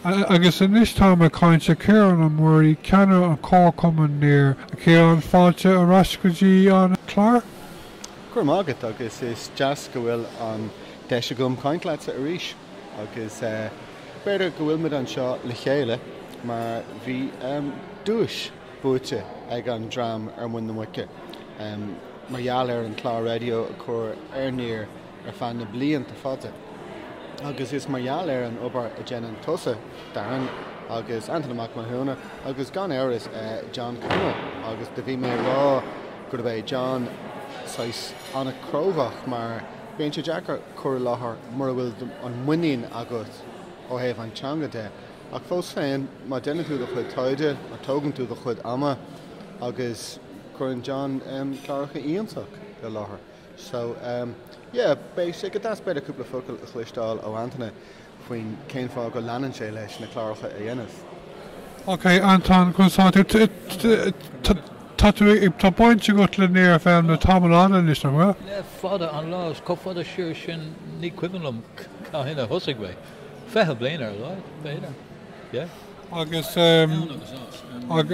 Agus anois táim ag caint le Ciarán Ó Muirí, Ceannaire an Chomharchumainn Near. A Chiaráin, fáilte ar ais go dtí an clár. Go raibh maith agat agus is deas go bhfuil an deis agam caint leatsa arís agus b'fhéidir go bhfuilmid anseo le chéile mar bhí duais buaite ag an dream Ar Muin na Muice mar gheall ar an clár raidió a chur ar Near ar feadh na blianta fada agus is mar gheall ar an obair a dhéanann tusa, Darren, agus Antaine Mac Mathúna agus gan amhras John Connell agus do bhí mé a rá gurb é John saghas an-chróga mar bíonn sé deacair cur i láthair mura bhfuil an muinín agat ó thaobh an teanga de ach fós féin má déanann tú do chuid taighde má tógann tú do chuid ama agus cuireann John cláracha iontacha i láthair. So um yeah basically, b'fhéidir cúpla focal a chloisteáil ó Antaine faoin cén fáth go leanann sé leis na cláracha a dhéanamh. Ok Antaine tá tú tá tú ag tá baint agat le Near FM le tamall fada anois nach bhfuil? Le fada an lá is chomh fada siar sin ní cuimhin liom cathain a thosaigh mé. Fiche bliain ar a laghad b'fhéidir yeah. agus mar, an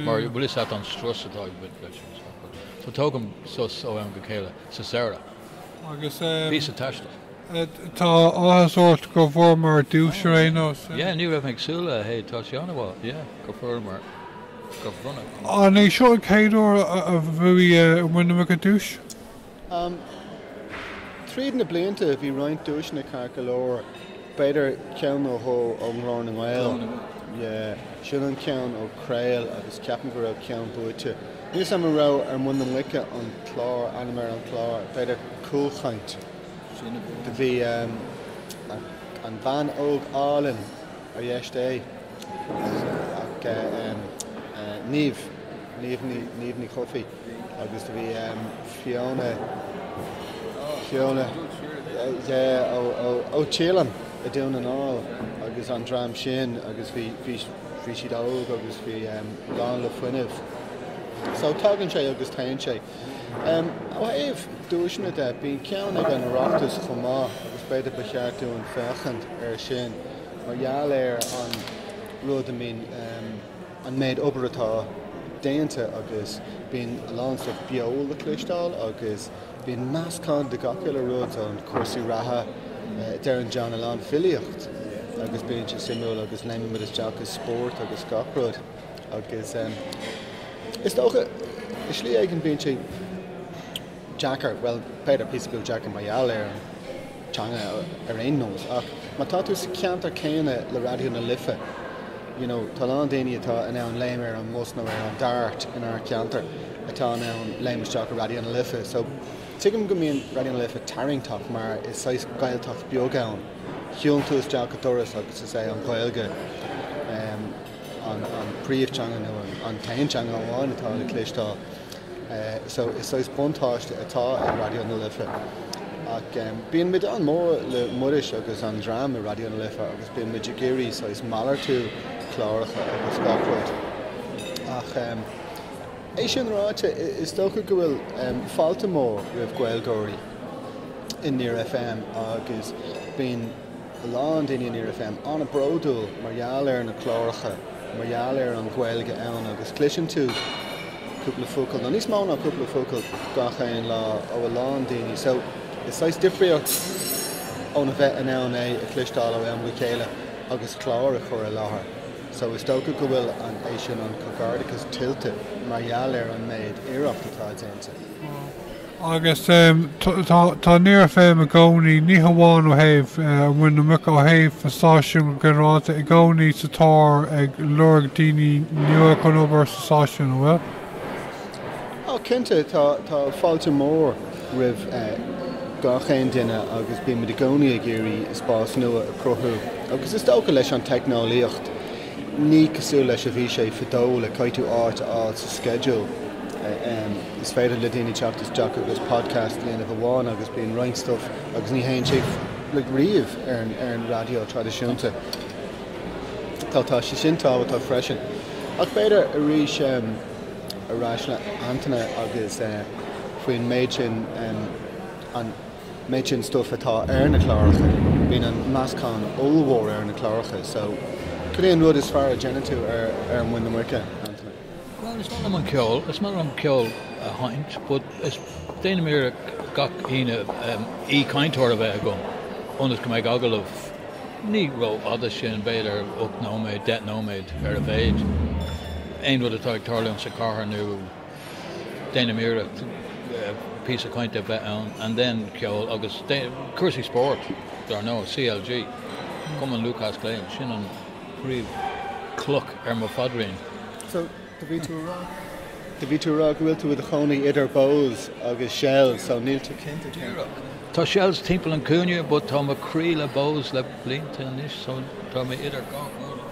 bhfuil a fhios agat an strus atá ag baint leis an soccer. So tógaim sos ó am go chéile sa samhradh. Agus píosa taistil. tá áthas ort go bhfuaireamar duais ar aon nós. Yeah, ní raibh mé ag súil leis, tá sé an-mhaith, yeah, go bhfuaireamar go bronnadh. An é seo an chéad uair a bhuaigh Muin na Muice an duais? Tríd na blianta bhí roinnt duaiseanna ceart go leor, b'fhéidir ceann nó dhó ó Ghlór na nGael, sin an ceann ó Craol agus ceapaim go raibh ceann buaite, níl 's agam an raibh Ar Muin na Muice an clár, ainm ar an chlár, b'fhéidir Cúlchaint. Do bhí an bhean óg álainn, ar dheis Dé, Niamh, Niamh Ní Chofaigh. Agus do bhí Fiona, Fiona, yeah, ó Teileann i nDún na nGall agus an dream sin agus bhí, bhí, bhí siad óg agus bhí lán le fuinneamh. So tagann sé agus téann sé. Ó thaobh duaiseanna de, bíonn ceann ag an Oireachtas chomh maith agus b'fhéidir ba cheart dúinn féachaint air sin mar gheall ar an rud a mbíonn, an méid obair atá déanta agus bíonn a lán stuif beo le cloisteáil agus bíonn meascán de gach uile rud ann, cúrsaí reatha, Darren, John, a lán, filíocht agus bíonn sé suimiúil agus léimeann muid isteach i spórt agus gach rud agus is dócha i slí éigin bíonn sé. deacair, bhuel, b'fhéidir píosa beag deacair mar gheall ar an teanga ar aon nós ach má tá tú sa ceantar céanna le Raidió na Life, you know, tá a lán daoine atá in ann léim ar an mbus nó ar an Dart inár ceantar atá in ann léim isteach i Raidió na Life. So, tuigim go mbíonn Raidió na Life tarraingteach mar is saghas Gaeltacht beag é, shiúlann tú isteach an doras agus is é an Gaeilge. an príomhteanga nó an t-aon teanga amháin atá le cloisteáil. So it's saghas buntáiste atá ag Raidió na Life. Ach bíonn muid an-mór le Muiris agus an dream i Raidió na Life agus bíonn muid ag iarraidh saghas malartú cláracha agus gach rud. Ach é sin ráite, is dócha go bhfuil fáilte mór roimh Gaeilgeoirí i Near FM agus bíonn a lán daoine i Near FM an-bródúil mar gheall ar na cláracha, mar gheall ar an Gaeilge ann agus cloiseann tú cúpla focal, nó níos mó ná cúpla focal gach aon lá ó a lán daoine. So, it's saghas difríocht ón a bheith in ann é a chloisteáil ó am go chéile agus clár a chur i láthair. So, is dócha go bhfuil an é sin an comhghairdeachas tuillte mar gheall ar an méid iarracht atá déanta. Agus tá Near FM i gcónaí, ní hamháin ó thaobh Ar Mhuin na Muice, ó thaobh an stáisiúin go ginearálta, i gcónaí sa tóir ag lorg daoine nua chun obair sa stáisiún, an bhfuil? Ó, cinnte, tá fáilte mór roimh gach aon duine agus bímid i gcónaí ag iarraidh spás nua a chruthú agus is dócha leis an teicneolaíocht, Ní cosúil leis a bhí sé fadó go gcaithfeá áit a fháil sa sceideal. Is féidir le daoine teacht isteach agus podcast a dhéanamh amháin agus bíonn roinnt stuff agus ní théann sé riamh ar an raidió traidisiúnta. Tá tá sé sin tábhachtach freisin. Ach b'fhéidir arís ar ais le Antaine agus faoin méid sin an, méid sin stuff atá ar na cláracha, bíonn an meascán ollmhór ar na cláracha so cad é an rud is fearr a dhéanann tú ar Ar Mhuin na Muice, Antaine? Bhuel, is maith liom an ceol, is maith liom ceol a sheinnt but is, déanaim iarracht gach Aoine aoi-chainteoir a bheith agam ionas go mbeidh agallamh ní ró-fhada sin, b'fhéidir ocht nóiméad, deich nóiméad ar a mhéid, aon rud atá ag tarlú sa chathair nó. Déanaim iarracht píosa cainte a bheith ann and then ceol agus cúrsaí spóirt, dar ndóigh, CLG, Cumann Lúthchleas Gael, sin an príomh chloch ar mo phaidrín. So, do bhí tú a rá, do bhí tú a rá go bhfuil tú i do chónaí idir Bohs agus Shels, so níl tú cinnte cén. Díreach. Tá Shels timpeall an cúinne but tá mo chroí le Bohs le blianta anois so tá mé idir dhá chúinne.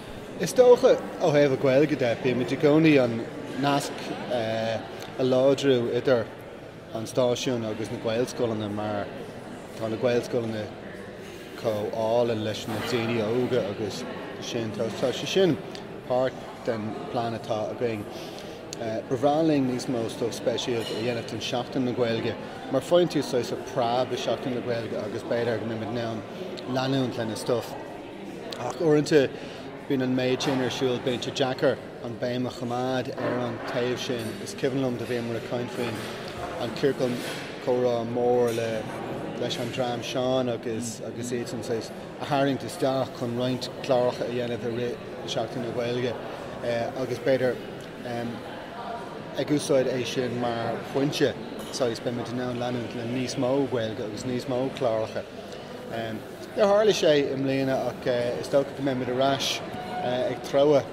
Is dócha, ó thaobh a Gaeilge de, bímid i gcónaí an nasc a láidriú idir an stáisiún agus na Gaelscoileanna mar tá na Gaelscoileanna comhlán leis na daoine óga agus sin, tá sé sin páirt den plean atá againn. Ba bhreá linn níos mó stuif speisialta a dhéanamh don Seachtain na Gaeilge mar faigheann tú saghas preab i Seachtain na Gaeilge agus b'fhéidir go mbeimid in ann leanúint lena stuif. Ach uaireanta bíonn an méid sin ar siúl, bíonn sé deacair an béim a choimeád ar an taobh sin. Is cuimhin liom do bhíomar ag caint faoin an ciorcal comhrá mór leis an dream sean agus iadsan saghas a tharraingt isteach chun roinnt cláracha a dhéanamh i rith Seachtain na Gaeilge agus b'fhéidir ag úsáid é sin mar phointe saghas beimid in ann leanúint le níos mó Gaeilge agus níos mó cláracha. Um, Níor tharla sé i mbliana ach is dócha go mbeimid ar ais ag treabhadh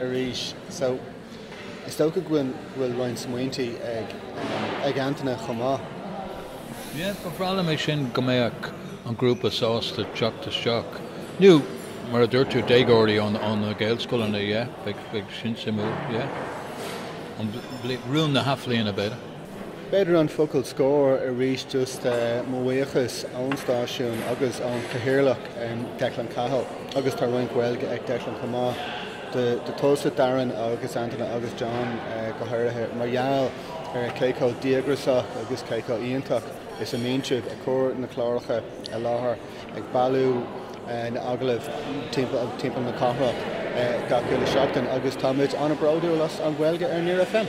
arís so is dócha go bhfuil roinnt smaointe ag Antaine chomh maith. Yeah, ba bhreá liom é sin, go mbeadh an grúpa sásta teacht isteach, nó mar a dúirt tú, déagóirí ó na Gaelscoileanna, yeah, bheadh sin suimiúil, yeah, rún na hathbhliana b'fhéidir. B'fhéidir an focal scoir arís just mo bhuíochas ón stáisiún agus ón Chathaoirleach Declan Cahill agus tá roinnt Gaeilge ag Declan chomh maith do tusa, Darren agus Antaine agus John go háirithe mar gheall ar cé chomh díograsach agus cé chomh iontach is a mbíonn siad ag cur na cláracha i láthair. ag bailiú na n-agallamh timpeall na cathrach gach uile sheachtain agus táimid an-bhródúil as An Ghaeilge ar Near FM.